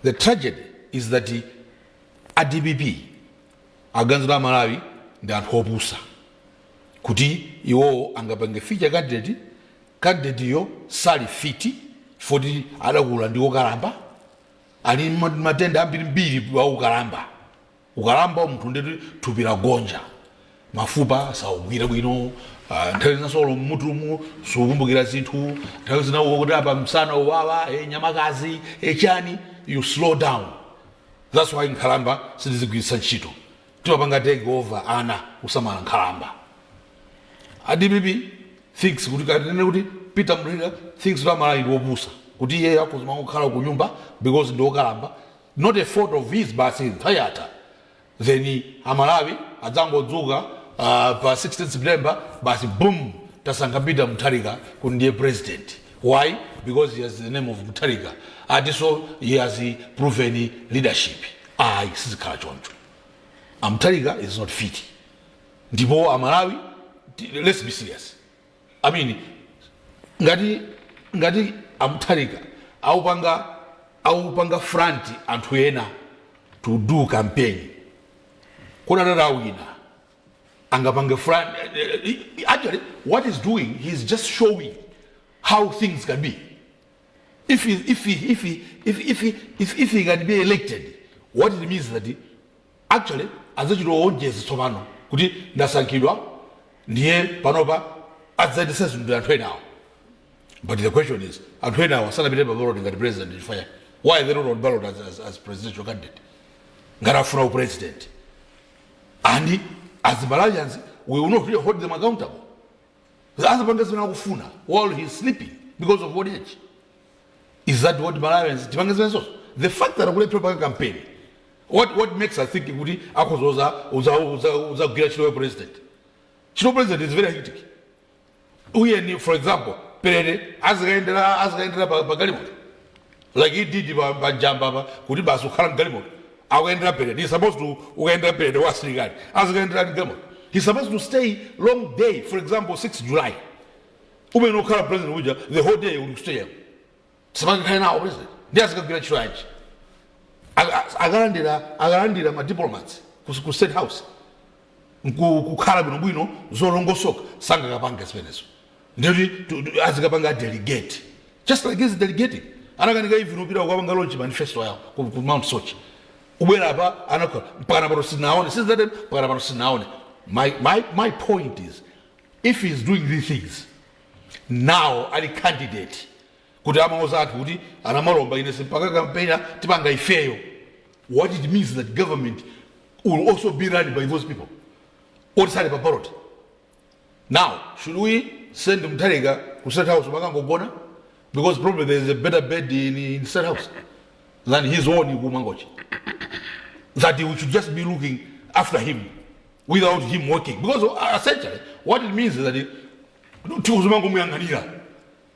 the tragedy is that a dpp aganiza kuti amalawi ndi anthu opusa kuti iwowo angapange feature candidate candidate yo sali fiti foti adakula ndi okalamba ali ma- matenda ambirimbiri wa ukalamba Ukalamba munthu ndeti thupi lagonja, mafupa sakugwira bwino, ah, nthawi zinanso olo mmutumu sukukumbukira zinthu, nthawi zina ukuti apa msana uwawa, eh, nyamakazi, eh, chani, you slow down. That's why nkhalamba sitizigwiritsa ntchito. Timapanga take over ana kusamala nkhalamba. A DPP thinks kuti kanene kuti Peter Mutharika thinks kuti amalawi ndi opusa kuti iye akuzimva kukhala ku nyumba because ndi wokalamba not a fault of his basi nthawi yatha then amalawi adzangodzuka ah, pa 16 september basi boom tasankha peter mutharika kuti ndiye president why because he has the name of mutharika and so he has proven leadership ayi sizikhala choncho amutharika is not fit ndipo amalawi ti- let's be serious I mean, ngati ngati amuthalika aupanga aupanga front anthu ena to do campaign kodi atata awina angapange front eh, eh, eh, actually what he's doing he's just showing how things can be if he, if he, if he, if, if he, if, if he can be elected what it means that he, Actually adzachita onjeza tsopano kuti ndasankhidwa ndiye panopa adzayendetsa zinthu ndi anthu enawo but the question is anthu enawo sanapite pa ballot ngati president chifukwa chani? Why they not on ballot as, as, as presidential candidate ngati afuna upresident and as Malawians we will not really hold them accountable azipanga zimene akufuna while he is sleeping because of old age is that what malawians tipange zimenezozo the fact that akulephera panga campaign what, what makes us think kuti akhozoza uzagwira ntchito ya president ntchito president is very hectic tiyeni for example parade azikayendera azikayendera pa pa galimoto like he did pa pa njamba apa kuti basi ukhala mgalimoto akuyendera parade he supposed to ukayendera parade wa asilikali azikayendera mgalimoto he supposed to stay long day for example 6 july umene ukhala president uja the whole day uli ku stadium sipangakhale nawo president nde azikagwira ntchito yanji Aka- akalandira akalandira ma diplomats ku ku state house nkukhala bwinobwino zolongosoka sangakapange zimenezo ndikuti tu- tu- azikapanga delegate just like he's delegating anakanika even upita kukapanga launch manifesto yawo ku, ku mount soche kubwera apa anakhala mpakana pano sinaone since that time mpakana pano sinaone my, my, my point is if he is doing these things now ali candidate kuti amauza athu kuti anamalomba ine simpaka kampenya tipanga ifeyo what it means that government will also be run by those people oti sali pa ballot now should we send mtharika ku state house makangogona because probably there is a better bed in, in state house than his own kumangochi that we should just be looking after him without him working because uh, essentially what it means is that it- tiuzimangomuyang'anira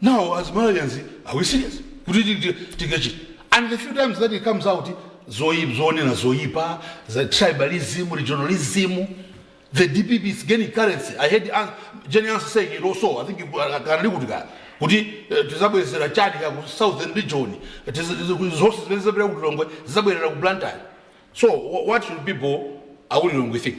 Now as Malawians are we serious kuti tingachite and the few times that he comes out zoipa zonena zoipa za tribalism regionalism the dpp is gaining currency i heard An- jane ansah saying it also i think you- uh, kanali kuti kaya kuti eh, tizabwezera chani ka ku southern region tiz- tiz- zonse zimene zabwera ku lilongwe zizabwerera ku blantyre so wha- what should people akulilongwe think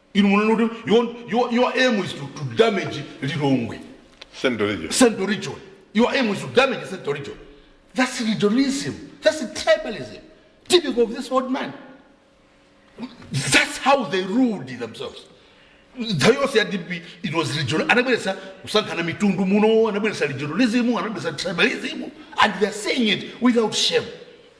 inu munene kuti your, your, your aim is to, to damage lilongwe central region central region your aim is to damage central region that's regionalism that's tribalism typical of this old man that's how they ruled themselves nthawi yonse ya dp it was regional anabweretsa kusankhana mitundu muno anabweretsa regionalism anabweretsa tribalism and theyare saying it without shame